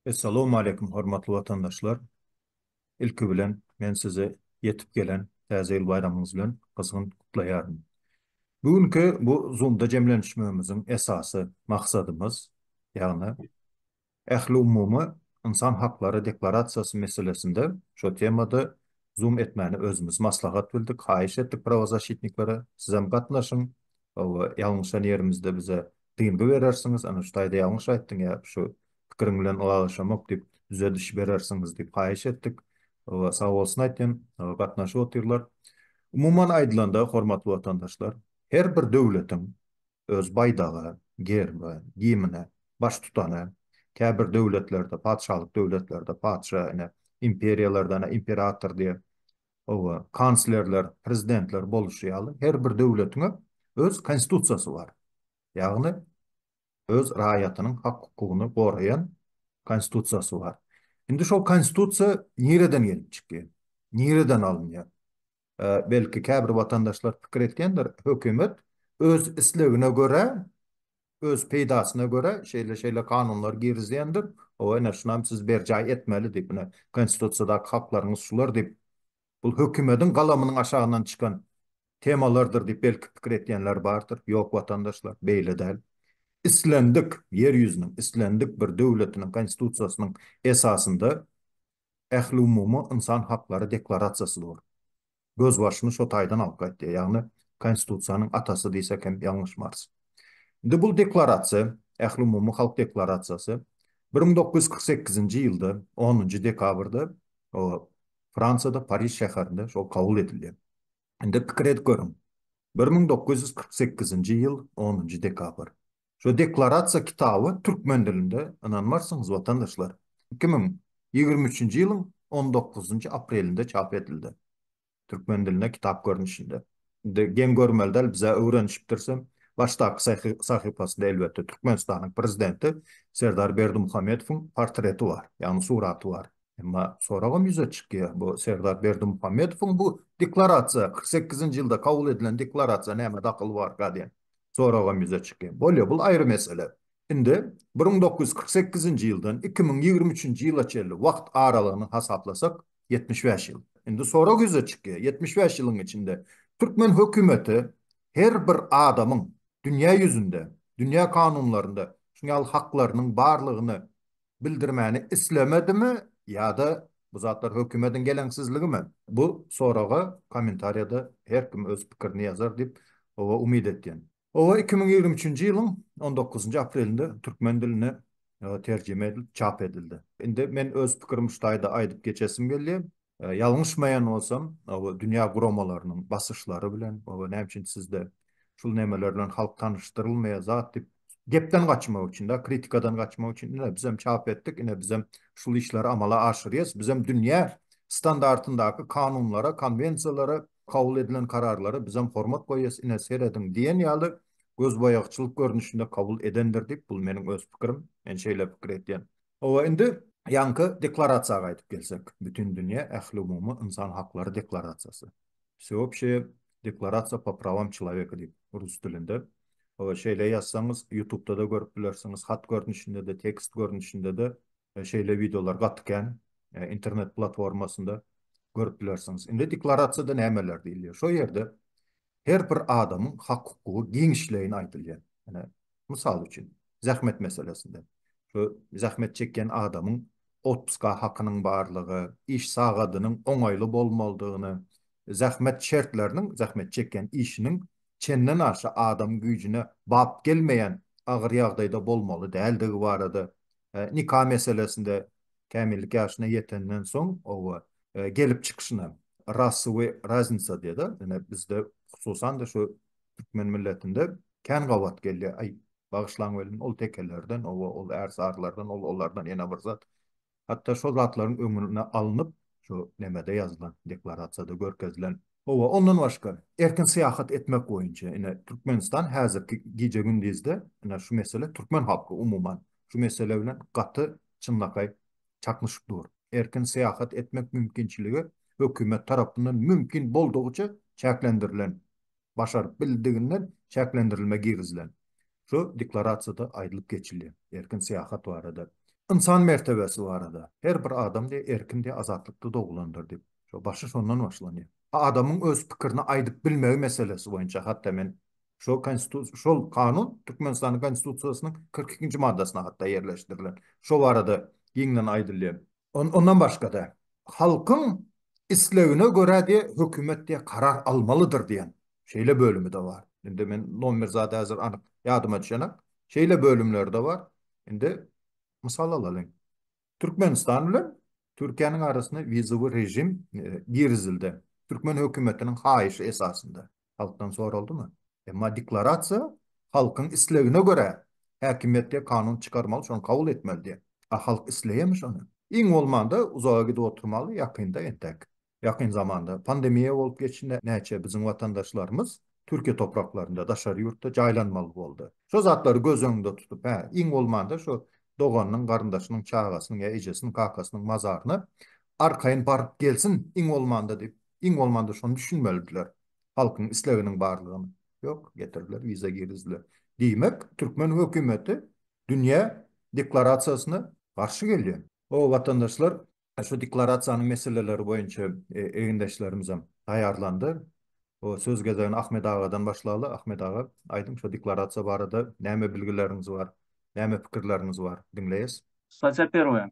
Essalawmaleýkum hormatly watandaşlar! Ilki bilen men sizi ýetip gelen Täze ýyl baýramyňyz bilen gyzgyn gutlaýaryn. Bu günki bu Zoom-da jemlenişmegimiziň esasy maksadymyz, ýagny Ähliumumy ynsan haklary deklarasiýasy meselesinde şo temada zoom etmäni özümiz maslahat bildik, haýyş etdik prawozaşitniklere, sizem gatnaşyň, hawa, ýalňyşan ýerimizde bize dyngy berersiňiz, ana şu taýda ýalňyş aýtdyň ýa şu pikiriň bilen ylalaşamok diýip, düzediş berersiňiz diýip haýyş etdik. Hawa, sag bolsun aýtýan, hawa, gatnaşyp otyrlar. Umuman aýdylanda, hormatly watandaşlar, her bir döwletiň öz baýdaga, gerbe, gimine, baştutana, käbir döwletlerde, patyşalyk döwletlerde patyşa, ine, imperiýalarda, ana, imperator diýer, hawa, kanslerler, prezidentler boluşy ýaly, her bir döwletiňe öz konstitusiýasy bar. Ýagny, öz raýatynyň hak-hukugyny goraýan konstitusiýasy bar. Indi şol konstitusiýa nireden gelip çykýar? Nireden alynýar? belki käbir watandaşlar pikir etýändir, hökümet öz islegine görä, öz peýdasyna görä şeýle-şeýle kanunlar girizýändir, hawa, ine, şunam siz berjaý etmeli diýip, ine, Konstitusiýadaky haklaryňyz şular diýip, bul hökümediň galamynyň aşagyndan çykan temalardyr diýip belki pikir etýänler bardyr. Ýok, watandaşlar, beýle däl. Islendik, Ýer ýüzüniň islendik bir döwletiniň Konstitusiýasynyň esasynda Ähliumumy ynsan haklary deklarasiýasy dur. Gözbaşyny şo taýdan alyp gaýtýar, ýagny Konstitusiýanyň atasy diýsek hem ýalňyşmarys. Indi bul deklarasiýa, Ähliumumy halk deklarasiýasy bir müň dokuz ýüz kyrk sekizinji ýylda onunjy dekabrda Fransiýada Pariž şäherinde şol kabul edilýär. Indi pikir edip görüň, bir müň dokuz ýüz kyrk sekizinji ýyl onunjy dekabr. Şu deklarasiýa kitaby türkmen dilinde, ynanmarsyňyz watandaşlar, iki müň ýigrimi üçünji ýylyň on dokuzynjy aprelinde çap edildi. Türkmen diline kitap görnüşinde. Indi geň görmeli däl, biz-ä öwrenişipdirsem. Başdaky sahypasynda elbetde Türkmenistanyň prezidenti Serdar Berdimuhamedowyň portreti bar, ýagny suraty bar. Emma soragam ýüze çykýar, bu Serdar Berdimuhamedowyň bu deklarasiýa, kyrk sekizinji ýylda kabul edilen deklarasiýa näme dahyly barka diýen. soragam ýüze çykýar. Bolýar, bul aýry mesele. Indi bir müň dokuz ýüz kyrk sekizinji ýyldan iki müň ýigrimi üçünji ýyla çenli wagt aralygyny hasaplasak, ýetmiş bäş ýyl. Indi sorag ýüze çykýar, ýetmiş bäş ýylyň içinde türkmen hökümeti her bir adamyň dünýä ýüzünde, dünýä kanunlarynda şuňaly haklarynyň barlygyny bildirmäni islemedimi ýa-da bu zatlar hökümediň geleňsizligimi? Bu soraga kommentariýada her kim öz pikirini ýazar diýip oba umyt etýän. Oba iki müň ýigrimi üçünji ýylyň on dokuzynjy aprelinde türkmen diline terjime edilip çap edildi. Indi men öz pikirimi şu taýda aýdyp geçesim gelýär. Ýalňyşmaýan bolsam, oba dünýä guramalarynyň basyşlary bilen, oba näme üçin sizde şul nemeler bilen halk tanyşdyrylmaýar zat diýip, gepden gaçmak üçin-dä, kritikadan gaçmak üçin, ine bizem çap etdik, ine bizem şul işleri amala aşyrýas, bizem dünýä standartyndaky kanunlara, konwensiýalara, kabul edilen kararlara bizem hormat goýýas, ine serediň diýen ýaly gözboýagçylyk görnüşinde kabul edendir diýip, bul meniň öz pikirim, men şeýle pikir etýän. Hawa, indi ýaňky deklarasiýa gaýdyp gelsek, Bütindünýä ähliumumy ynsan haklary deklarasiýasy, Wseobşeýe deklarasiýa po prawam çylaweka diýip, rus dilinde. Hawa, şeýle ýazsaňyz, ýutubda-da görüp bilersiňiz, hat görnüşinde-de, tekst görnüşinde-de şeýle wideolar gaty kän, internet platformasynda görüp bilersiňiz. Indi deklarasiýada nämeler diýilýär? Şo ýerde her bir adamyň hak-hukugy giňişleýin aýdylýar. Ine, mysal üçin, zähmet meselesinde, şu zähmet çekýän adamyň otpuska hakynyň barlygy, iş sagadynyň oňaýly bolmalydygyny, zähmet şertleriniň zähmet çekýän işiniň çenden aşa adam güýjüne bap gelmeýän agyr ýagdaýda bolmaly däldigi barada, nika meselesinde, kämillik ýaşyna ýetenden soň, oba, gelip çykyşyna rasowy raznica diýede ine bizde hususan-da şu türkmen milletinde kän gabat gelýär aý bagyşlaň welin ol tekelerden oba ol ärsarylardan ol olardan ýene bir zat hatda şol zatlaryň öňüne alnyp şu nemede ýazylan deklarasiýada görkezilen Oba ondan başga erkin syýahat etmek boýunça ine Türkmenistan häzirki gije gündizde ine şu mesele türkmen halky umuman şu mesele bilen gaty çynlakaý çaknyşyk dur. Erkin syýahat etmek mümkinçiligi hökümet tarapyndan mümkin boldugyça çäklendirilen, başaryp bildiginden çäklendirilme girizilen. Şu deklarasiýada aýdylyp geçilýär. Erkin syýahat barada. Ynsan mertebesi barada. Her bir adam diýýär erkindir, azatlykda dogulandyr diýip. Şo başy şondan başlanýar. Adamyň öz pikirini aýdyp bilmegi meselesi boýunça hat-da men Şol Konstitusiýa, şol Kanun Türkmenistanyň Konstitusiýasynyň kyrk ikinji maddasynda hatda ýerleşdirilen. Şo barada giňden aýdylýar. Ondan başga-da, halkyň islegine görä diýe hökümet diýe karar almalydyr diýen şeýle bölümi-de bar. Indi men nomer zady häzir anyk ýadyma düşenak. Şeýle bölümleri-de bar. Indi mysal alalyň. Türkmenistan bilen Türkiýäniň arasyna wizowy režim girizildi. Türkmen hökümetiniň haýyşy esasynda. halkdan soraldymy? Emma deklarasiýa halkyň islegine görä häkimiýet diýýär kanun çykarmaly şony kabul etmeli diýýär. A halk isleýärmi şony? Iň bolmanda uzaga gidip oturmaly ýakynda entäk ýakyn zamanda pandemiýa bolup geçdi näçe biziň watandaşlarymyz Türkiýe topraklarynda daşary ýurtda jaýlanmaly boldy. Şo zatlary göz öňünde tutup hä iň bolmanda şo doganynyň garyndaşynyň çagasynyň ýa ejesiniň kakasynyň mazaryna arkaýyn baryp gelsin iň bolmanda diýip Iň bolmanda şony düşünmelidiler. Halkyň isleginiň barlygyny. Ýok, getirdiler, wiza girizdiler. Diýmek, türkmen hökümeti dünýä deklarasiýasyna garşy gelýär. Hoo, watandaşlar, şu deklarasiýanyň meseleleri boýunça egindeşlerimizem taýýarlandy. Hoo, söz gezegini Ahmet agadan başlaly. Ahmet aga, aýdyň, şu deklarasiýa barada näme bilgileriňiz bar, näme pikirleriňiz bar? Diňleýäs. Statia perwaya.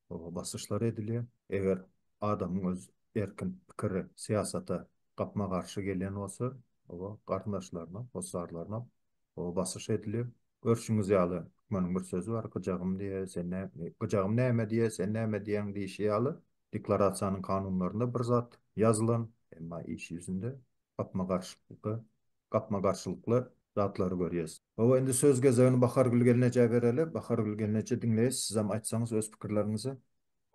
basyşlar edilýär. Eger adamyň öz erkin pikiri syýasata gapma-garşy gelýän bolsa, oba garyndaşlaryna, hossarlaryna oba basyş edilýär. Görşüňiz ýaly, türkmeniň bir sözi bar, Gyjagym diýýä, sen nä, gyjagym näme diýýä, sen näme diýýäň diýşi ýaly, deklarasiýanyň kanunlarynda bir zat ýazylan, emma iş ýüzünde gapma-garşylykly, gapma-garşylykly zatlary görýäs. Hawa, indi söz gezegini Bahargül gelnejä bereli. Bahargül gelneje, diňleýäs, sizem aýtsaňyz öz pikirleriňizi.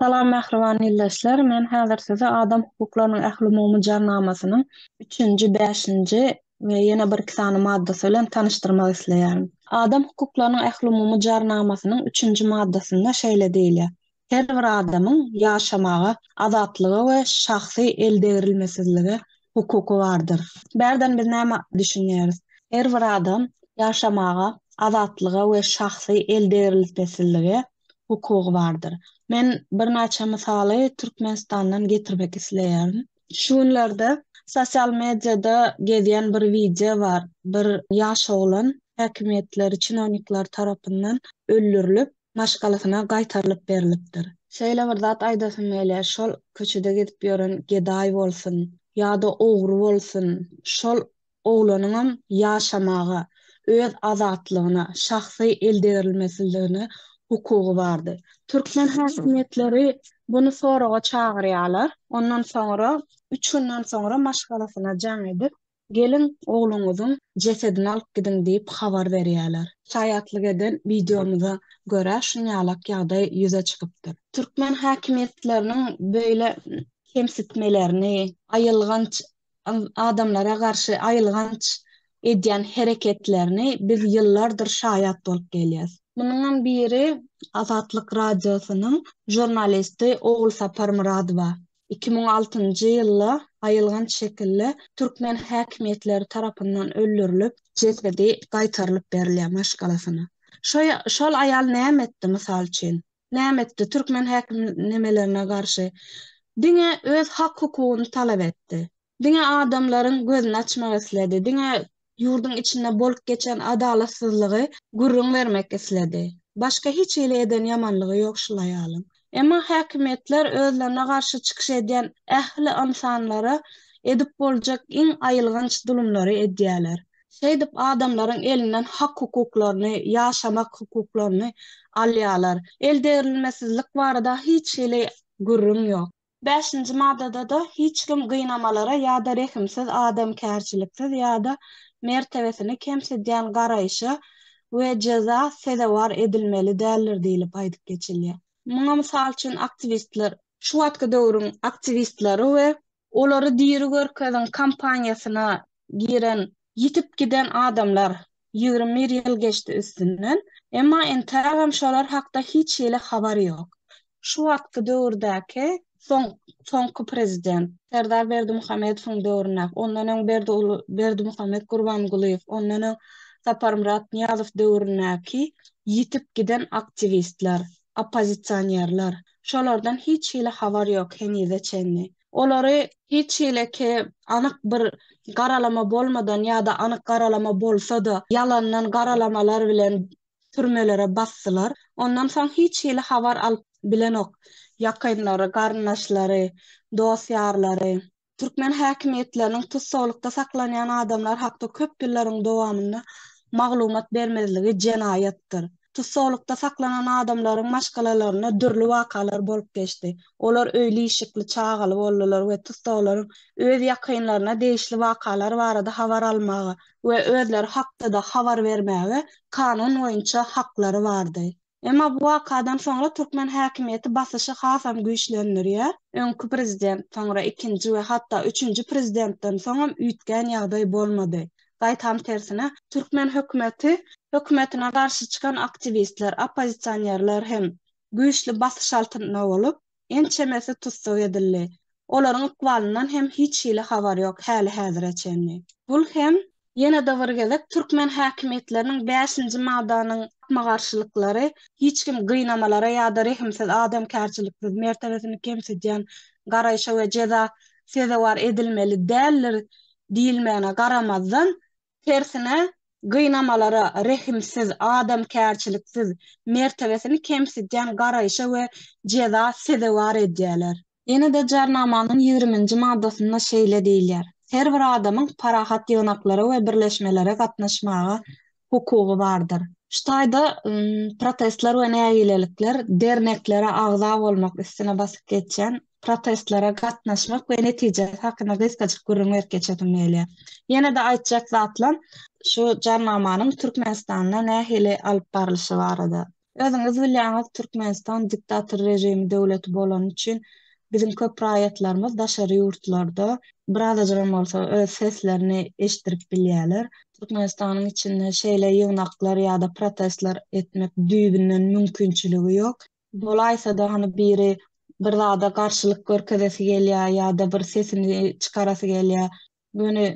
Salam mähriban ildeşler, men häzir size Adam hukuklarynyň ählumumy jarnamasynyň üçünji, bäşinji we ýene bir iki sany maddasy bilen tanyşdyrmak isleýärin. Adam hukuklarynyň ählumumy jarnamasynyň üçünji maddasynda şeýle diýilýär, her bir adamyň ýaşamaga, azatlyga we şahsy eldegrilmesizlige hukuky bardyr. Bärden biz näme düşünýäris? Her bir adam ýaşamaga, azatlyga we şahsy eldegriltmesizlige hukugy bardyr. Men birnäçe mysaly Türkmenistandan getirmek isleýärin. Şu günlerde sosial mediada gezýän bir wideo bar. Bir ýaş oglan häkimiýetleri, çinownikler tarapyndan öldürilip, maşgalasyna gaýtarylyp berlipdir. Şeýle bir zat aýdasym gelýär, şol köçede gezip ýören gedaý bolsun, ýa-da ogry bolsun, şol oglanyňam ýaşamaga, öz azatlygyna, şahsy eldegrilmesizligine hukugy bardy. Türkmen häkimiýetleri buny soraga çagyrýarlar, ondan soňra üç günden soňra maşgalasyna jaň edip, Geliň, ogluňyzyň jesedini alyp gidiň diýip habar berýärler. Şaýatlyk eden wideomyza görä, şunýalak ýagdaý ýüze çykypdyr. Türkmen häkimiýetleriniň beýle kemsitmelerini, aýylganç adamlara garşy aýylganç edýän hereketlerini biz ýyllardyr şaýat bolup gelýäs. Munuňam biri Azatlyk Radiosynyň žurnalisti Ogulsapar Myradowa. iki müň altynjy ýylda aýylganç şekilde türkmen häkimiýetleri tarapyndan öldürilip, jesedi gaýtarylyp berilýär maşgalasyna. Şo şol aýal näme etdi, mysal üçin? Näme etdi? Türkmen häkimnemelerine garşy diňe öz hak-hukugyny talap etdi. Diňe adamlaryň gözüni açmak isledi, diňe ýurduň içinde bolup geçen adalatsyzlygy gürrüň bermek isledi. Başga hiç hili eden ýamanlygy ýok şul aýalyň. Emma häkimiýetler özlerine garşy çykyş edýän ähli ynsanlara edip boljak iň aýylganç zulumlary edýärler. Şeýdip adamlaryň elinden hak-hukuklaryny, ýaşamak hukuklaryny alýarlar. Eldegrilmesizlik barada hiç hili gürrüň ýok. Bäşinji maddada-da hiç kim gynamalara ýa-da rehimsiz, adamkärçiliksiz ýa-da mertebesini kemsidýän garaýşa we jeza sezewar edilmeli däldir diýlip aýdyp geçilýär. Muňa mysal üçin aktiwistler. Şu wagtky döwrüň aktiwistleri we. Olary diri görkeziň kampaniýasyna giren Ýitip giden adamlar, ýigrimi bir ýyl geçdi üstünden, emma entägem şolar hakda hiç hili habar ýok. Şu wagtky döwürdäki soň soňky prezident, Serdar Berdimuhamedowyň döwründäki, ondan öň Berdi uly Berdimuhamet Gurbangulyýew, ondan öň Saparmyrat Nyýazow döwründäki ýitip giden aktiwistler, oppozisionerler, şolardan hiç hili habar ýok henize çenli. Olary hiç hileki anyk bir garalama bolmadan ýa-da anyk garalama bolsa-da, ýalandan garalamalar bilen türmelere basdylar. Ondan soň hiç hili habar alyp bilenok. Ýakynlary, garyndaşlary, dost-ýarlary. Türkmen häkimiýetleriniň tussaglykda saklanýan adamlar hakda köp ýyllaryň dowamynda maglumat bermezligi jenaýatdyr. Tussaglykda saklanan adamlaryň maşgalalarynda dürli wakalar bolup geçdi. Olar öýli-işikli, çagaly boldular we tussaglaryň öz ýakynlaryna degişli wakalar barada habar almaga we özleri hakda-da habar bermäge kanun boýunça haklary bardy. Emma bu wakadan soňra türkmen häkimiýeti basyşy hasam güýçlendirýär. Öňki prezident, soňra ikinji we hatda üçünji prezidentden soňam üýtgän ýagdaý bolmady. Gaýtam tersine, türkmen hökümeti, hökümetine garşy çykan aktiwistler, oppozisionerler hem güýçli basyş altynda bolup, ençemesi tussag edildi. Olaryň ykbalyndan hem hiç hili habar ýok häli-häzire çenli. Bul hem ýene-de bir gezek türkmen häkimiýetleriniň bäşinji maddanyň gapma-garşylyklary, hiç kim gynamalara ýa-da rehimsiz, adamkärçiliksiz, mertebesini kemsidýän garaýşa we jeza sezewar edilmeli däldir diýilmegine garamazdan, tersine, gynamalara rehimsiz, adamkärçiliksiz, mertebesini kemsidýän garaýşa we jeza sezewar edýärler. Ýene-de Jarnamanyň ýigriminji maddasynda şeýle diýilýär, Her bir adamyň parahat ýygnaklara we birleşmelere gatnaşmaga hukugy bardyr. Şu taýda protestler we nägilelikler derneklere agza bolmak üstüne basyp geçýän protestlere gatnaşmak we netijesi hakynda gysgajyk gürrüň berip geçesim gelýär. Ýene-de aýtjak zatlam şu Jarnamanyň Türkmenistanda nähili alyp barlyşy barada. Özüňiz bilýäňiz Türkmenistan diktator režimi döwleti bolany üçin biziň köp raýatlarymyz daşary ýurtlarda birazajygam bolsa öz seslerini eşitdirip bilýäler. Türkmenistanyň içinde şeýle ýygnaklar ýa-da protestler etmek düýbünden mümkinçiligi ýok. Bolaýsa-da hany biri bir zada garşylyk görkezesi gelýär ýa-da bir sesini çykarasy gelýär. Göni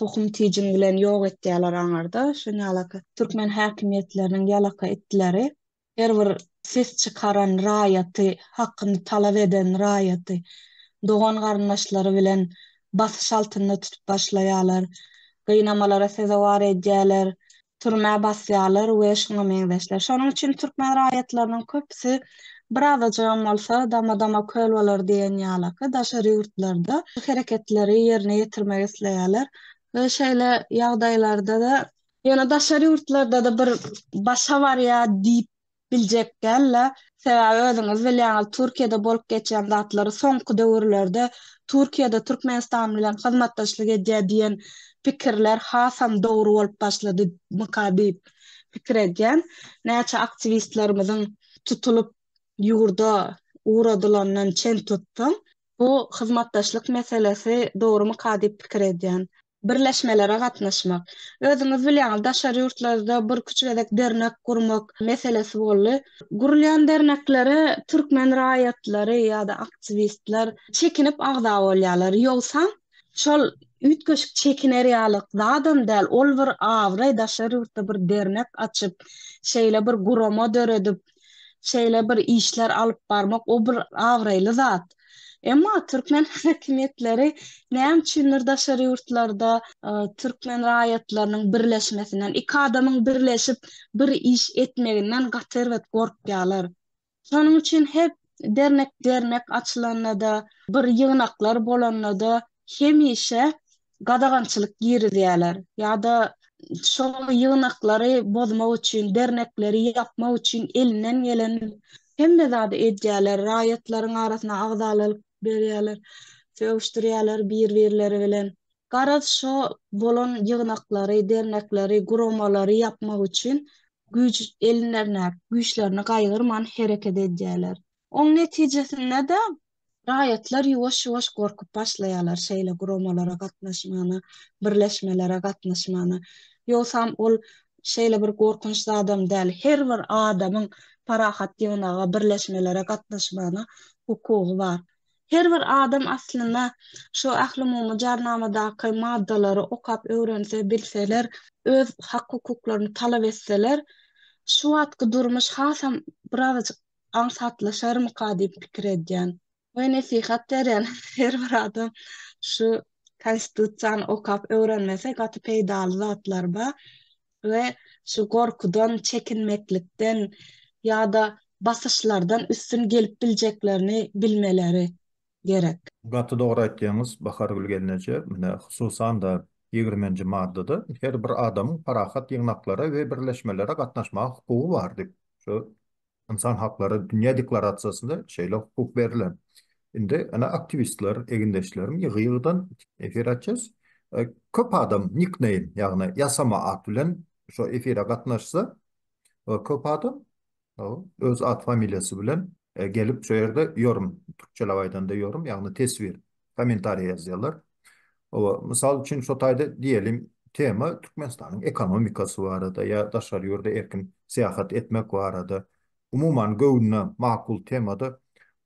tohum tijiň bilen ýok etýäler aňarda şo ýalaka türkmen häkimiýetleriniň ýalaka itleri her bir ses çykaran raýaty hakyny talap eden raýaty dogan garyndaşlary bilen basyş altynda tutup başlaýalar gynamalara sezewar edýäler türmä basýarlar we şuňa meňzeşler. Şonuň üçin türkmen raýatlarynyň köpüsi bir azajygam bolsa dama-dama köl bolar diýen ýalaky daşary ýurtlarda şu hereketleri ýerine ýetirmek isleýärler we şeýle ýagdaýlarda-da, ýöne daşary ýurtlarda-da bir başa barýar diýip biljek däl-le, sebäbi özüňiz bilýäňiz, Türkiýede bolup geçýän zatlary, soňky döwürlerde Türkiýede Türkmenistan bilen hyzmatdaşlyk edýär diýen pikirler hasam dogry bolup başladymyka diýip pikir edýän. Näçe aktiwistlerimiziň tutulyp ýurda ugradylanyndan çen tutsaň, bu hyzmatdaşlyk meselesi dogrumyka diýip pikir edýän. birleşmelere gatnaşmak. Özüňiz bilýäňiz, daşary ýurtlarda birküç gezek dernek gurmak meselesi boldy. Gurulýan derneklere türkmen raýatlary ýa-da aktiwistler çekinip agza bolýarlar. Ýogsam, şol üýtgeşik çekiner ýalyk zadam däl, ol bir abraý, daşary ýurtda bir dernek açyp, şeýle bir gurama döredip, şeýle bir işler alyp barmak o bir abraýly zat. Emma türkmen häkimiýetleri näme üçindir daşary ýurtlarda türkmen raýatlarynyň birleşmesinden, iki adamyň birleşip bir iş etmeginden gaty erbet gorkýarlar. Şonuň üçin her dernek-dernek açylanda-da, bir ýygnaklar bolanda-da hemişe gadagançylyk girizýärler ýa-da şol ýygnaklary bozmak üçin, dernekleri ýapmak üçin elinden gelen hemme zady edýärler, raýatlaryň arasyna agzaly alyp berýärler, sögüşdirýärler bir-birleri bilen. Garaz, şo bolan ýygnaklary, dernekleri, guramalary ýapmak üçin güýç elinlerindäki güýçlerini gaýgyrman hereket edýärler. Oň netijesinde-de, raýatlar ýuwaş-ýuwaş gorkup başlaýarlar şeýle guramalara gatnaşmana, birleşmelere gatnaşmana. Ýogsam ol şeýle bir gorkunç zadam däl. Her bir adamyň parahat ýygnaga, birleşmelere gatnaşmana hukugy bar. Her bir adam aslynda şu Ählumumy Jarnamadaky maddalary okap öwrense, bilseler, öz hak-hukuklaryny talap etseler, şu wagtky durmuş hasam birazajyk aňsatlaşarmyka diýip pikir edýän. Goý nesihat berýän her bir adam şu konstitusiýany okap öwrenmese gaty peýdaly zatlar ba we şu gorkudan çekinmeklikden ýa-da basyşlardan üstün gelip biljeklerini bilmeleri gerek. Gaty dogry aýtýaňyz Bahargül gelneje, menä hususan-da ýigrimenji maddada her bir adamyň parahat ýygnaklara we birleşmelere gatnaşmaga hukugy bar diýip, şu Ynsan haklary dünýä deklarasiýasynda şeýle hukuk berlen. Indi ene aktiwistler, egindeşlerim ýygy-ýygydan efir açýas. Köp adam nikneým, ýagny ýasama at bilen şo efire gatnaşsa, köp adam öz at-familiýasy bilen gelip şo ýerde ýorüm, türkçeläp aýdanda ýorüm, ýagny teswir Kommentariýa ýazýarlar. Hawa, mysal üçin, şo taýda diýelim, tema Türkmenistanyň ekonomikasy barada ýa daşary ýurda erkin syýahat etmek barada, umuman, göwnüne makul temada,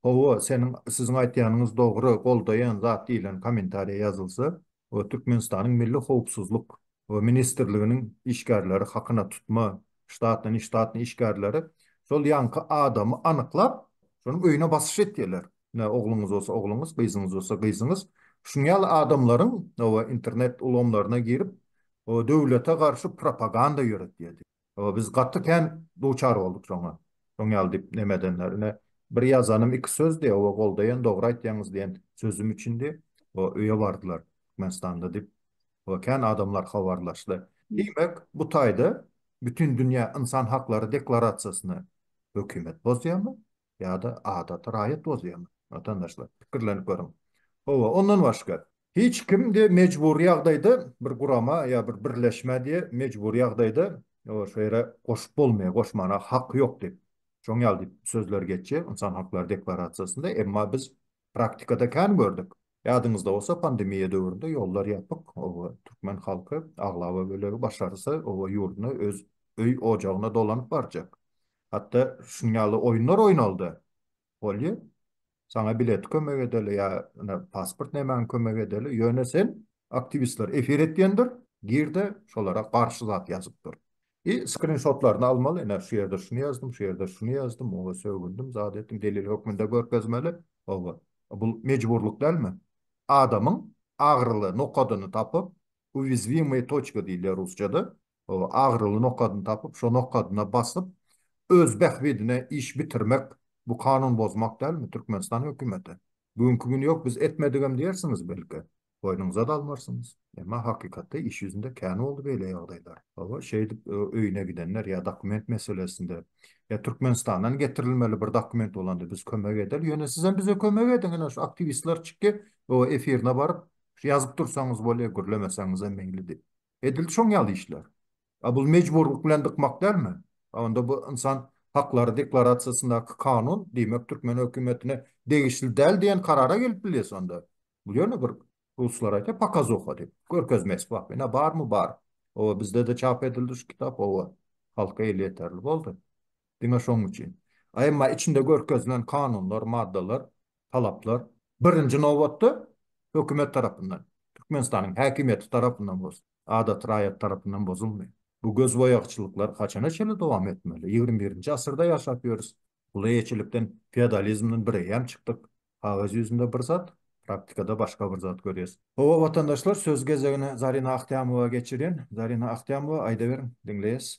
Hawa, seniň, siziň aýtýanyňyz dogry, goldaýan zat diýlen kommentariýa ýazylsa, o Türkmenistanyň Milli howpsuzlyk ministrliginiň işgärleri, hakyna tutma ştatny, neştatny işgärleri şol ýaňky adamy anyklap, şonuň öýüne basyş etýärler. Ine, ogluňyz bolsa ogluňyz, gyzyňyz bolsa gyzyňyz. Şunuň ýaly adamlaryň oba internet ulgamlaryna girip, o döwlete garşy propaganda ýöretýärdi. Oba biz gaty kän duçar bolduk şoňa. Şoň ýaly diýip neme edenler. Ine, bir ýazanym iki sözdi, oba goldaýan, dogry aýtýaňyz diýen sözüm üçindi. O öýe bardylar Türkmenistanda diýip, oba kän adamlar habarlaşdy. Diýmek, bu taýda Bütindünýä ynsan haklary deklarasiýasyny hökümet bozýarmy? ýa-da adaty raýat bozýarmy? Watandaşlar, pikirlenip görüň. Hawa, ondan başga, hiç kim diýe mejbury ýagdaýda bir gurama ýa bir birleşmä diýe mejbury ýagdaýda şu ýere goşup bolmaýar, goşmana haky ýok diýip, şoň ýaly diýip sözler geçýär Ynsan haklary deklarasiýasynda, emma biz Praktikada kän gördük. Ýadyňyzda bolsa pandemiýa döwründe ýollar ýapyk, oba türkmen halky aglaba bölegi başarsa oba ýurduna öz öý ojagyna dolanyp barjak. Hatda şunuň ýaly oýunlar oýnaldy. Bolýa. Saňa bileti kömek edeli ýa ine pasport nämäňi kömek edeli ýöne sen aktiwistler efir etýändir girde şolara garşy zat ýazyp dur. I skrinşotlaryny almaly, ine şu ýerde şuny ýazdym, şu ýerde şuny ýazdym, oňa sögündim, zat etdim, delil hökmünde görkezmeli, oba. Bul mejburlyk dälmi? Adamyň agyryly nokadyny tapyp, uwizwimyýe toçka diýilýär rusçada, oba, agyryly nokadyny tapyp, şo nokadyna basyp, öz bähbidine iş bitirmek, bu kanun bozmak dälmi, Türkmenistan hökümeti? Bu günki gün ýok biz etmedigem diýersiňiz belki. Boýnuňyza-da almarsyňyz. Emma hakykatda iş ýüzünde kän boldy beýle ýagdaýlar. Hawa, şeýdip öýüne gidenler ýa dokument meselesinde, ýa Türkmenistandan getirilmeli bir dokument bolanda biz kömek edeli, ýöne sizem bize kömek ediň, ine şu aktiwistler çykdy, o efirine baryp, şu ýazyp dursaňyz bolýa, gürlemeseňizem meýli diýip. Edildi şoň ýaly işler. A bul mejburlyk bilen dykmak dälmi? A onda bu ynsan haklary deklarasiýasyndaky kanun, diýmek türkmen hökümetine degişli däl diýen karara gelip bilýäs onda. Bul ýöne bir ruslar aýtýar pokazuha diýip, görkezme esbap. Ine barmy bar. Owa bizde-de çap edildi şu kitap, owa. Halka elýeterli boldy. Diňe şoň üçin. A emma içinde görkezilen kanunlar, maddalar talaplar, birinji nobatda, hökümet tarapyndan, Türkmenistanyň häkimiýeti tarapyndan bolsun, adaty raýat tarapyndan bozulmaýar. Bu gözboýagçylyklar haçana çenli dowam etmeli? Ýigrimi birinji asyrda ýaşap ýörüs. Gul eýeçilikden, feodalizmden bireýýäm çykdyk. Kagyz ýüzünde bir zat, praktikada başga bir zat görýäs. Hawa, watandaşlar, söz gezegini Zarina Ahtämowa geçirýän. Zarina Ahtämowa, aýdaweriň, diňleýäs.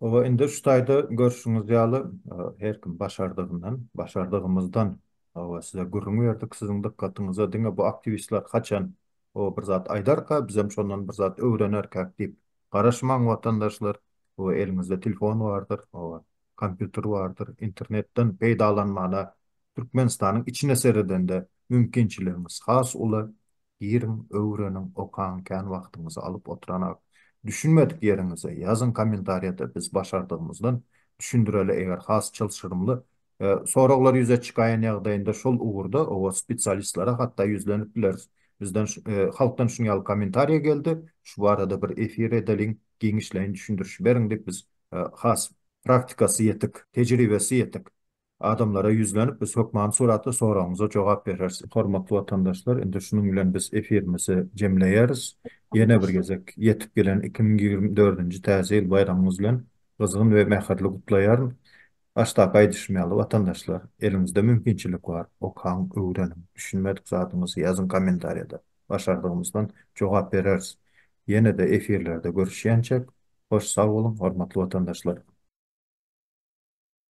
Oba indi şu taýda görşüňiz ýaly her kim başardygyndan, başardygymyzdan oba size gürrüň berdik. Siziň dykgatyňyza diňe bu aktiwistler haçan oba bir zat aýdarka bizem şondan bir zat öwrenerkäk diýip garaşmaň watandaşlar. Oba eliňizde telefon bardyr, oba kompýuter bardyr, internetden peýdalanmana Türkmenistanyň içine seredende mümkinçiligiňiz has uly. Giriň, öwreniň, okaň, kän wagtyňyzy alyp otyranak. Düşünmedik ýeriňizi ýazyň kommentariýada biz başardygymyzdan düşündireli eger has çylşyrymly soraglar ýüze çykaýan ýagdaýynda şol ugurda owa spesialistlere hatda ýüzlenip bileris. Bizden halkdan şuny ýaly kommentariýa geldi, şu barada bir efir edeliň, giňişleýin düşündiriş beriň diýip biz has praktikasy ýetik, tejribesi ýetik Adamlara ýüzlenip biz hökmany suratda soragyňyza jogap bereris. Hormatly watandaşlar indi şunuň bilen biz efirimizi jemleýäris. Ýene bir gezek ýetip gelen iki müň ýigrimi dördünji täze ýyl baýramyňyz bilen gyzgyn we mähirli gutlaýaryn. Başdaky aýdyşym ýaly watandaşlar eliňizde mümkinçilik bar okaň öwreniň düşünmedik zadyňyzy ýazyň kommentariýada başardygymyzdan jogap bereris. Ýenede efirlerde görüşýänçäk hoş sag boluň hormatly watandaşlar.